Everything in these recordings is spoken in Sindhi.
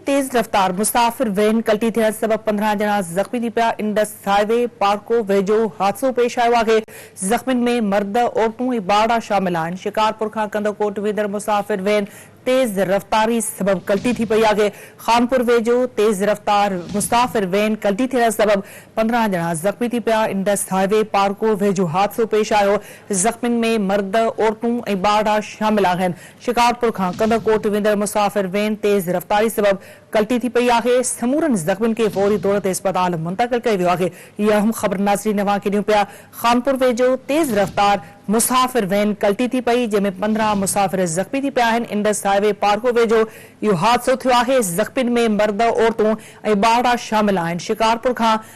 تيز رفتار مسافر وين ڪلٽي ٿيڻ سبب پندرهن ڄڻا زخمي ٿي پيا، انڊس هاء وي پارڪو ويجهو حادثو پيش آيو آهي، زخمين ۾ مرد، عورتون ۽ ٻارڙا شامل آهن، شڪارپور کان ڪنڌڪوٽ ويندڙ مسافر وين تيز رفتاري سبب ڪلٽي ٿي پئي آهي، خانپور ويجهو تيز رفتار مسافر وين ڪلٽي ٿيڻ سبب پندرهن ڄڻا زخمي ٿي پيا، انڊس هاء وي پارڪو ويجهو حادثو پيش آيو، زخمين ۾ مرد، عورتون ۽ ٻارڙا شامل آهن. شڪارپور کان ڪنڌڪوٽ ويندڙ مسافر وين تيز رفتاري سبب ڪلٽي ٿي پئي آهي، سمورن زخمين کي فوري طور تي اسپتال منتقل ڪيو ويو آهي، هي اهم خبر ناظرين اوهان کي ڏيون پيا، خانپور ويجهو تيز رفتار مسافر وين ڪلٽي ٿي پئي، جنهن ۾ پندرهن مسافر زخمي ٿي پيا آهن، انڊس هاء وي پارڪو ويجهو اهو حادثو ٿيو آهي، زخمين ۾ مرد، عورتون ۽ ٻارڙا شامل آهن، شڪارپور کان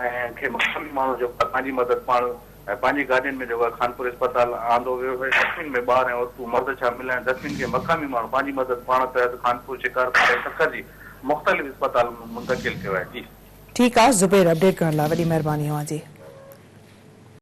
۽ کي مقامي ماڻهو جيڪو آهي پنهنجي مدد پاڻ ۽ پنهنجي گاڏين ۾ جيڪو آهي خانپور اسپتال آندو ويو هيو زخمين ۾ ٻار ۽ عورتون مرد شامل آهن زخمين کي مقامي ماڻهو پنهنجي مدد پاڻ تحت خانپور شڪارپور ۽ سکر جي مختلف اسپتالن ۾ منتقل ڪيو آهي جي. ٺيڪ آ زبير اپڊيٽ ڪرڻ لاء وڏي مھرباني اوھان جي.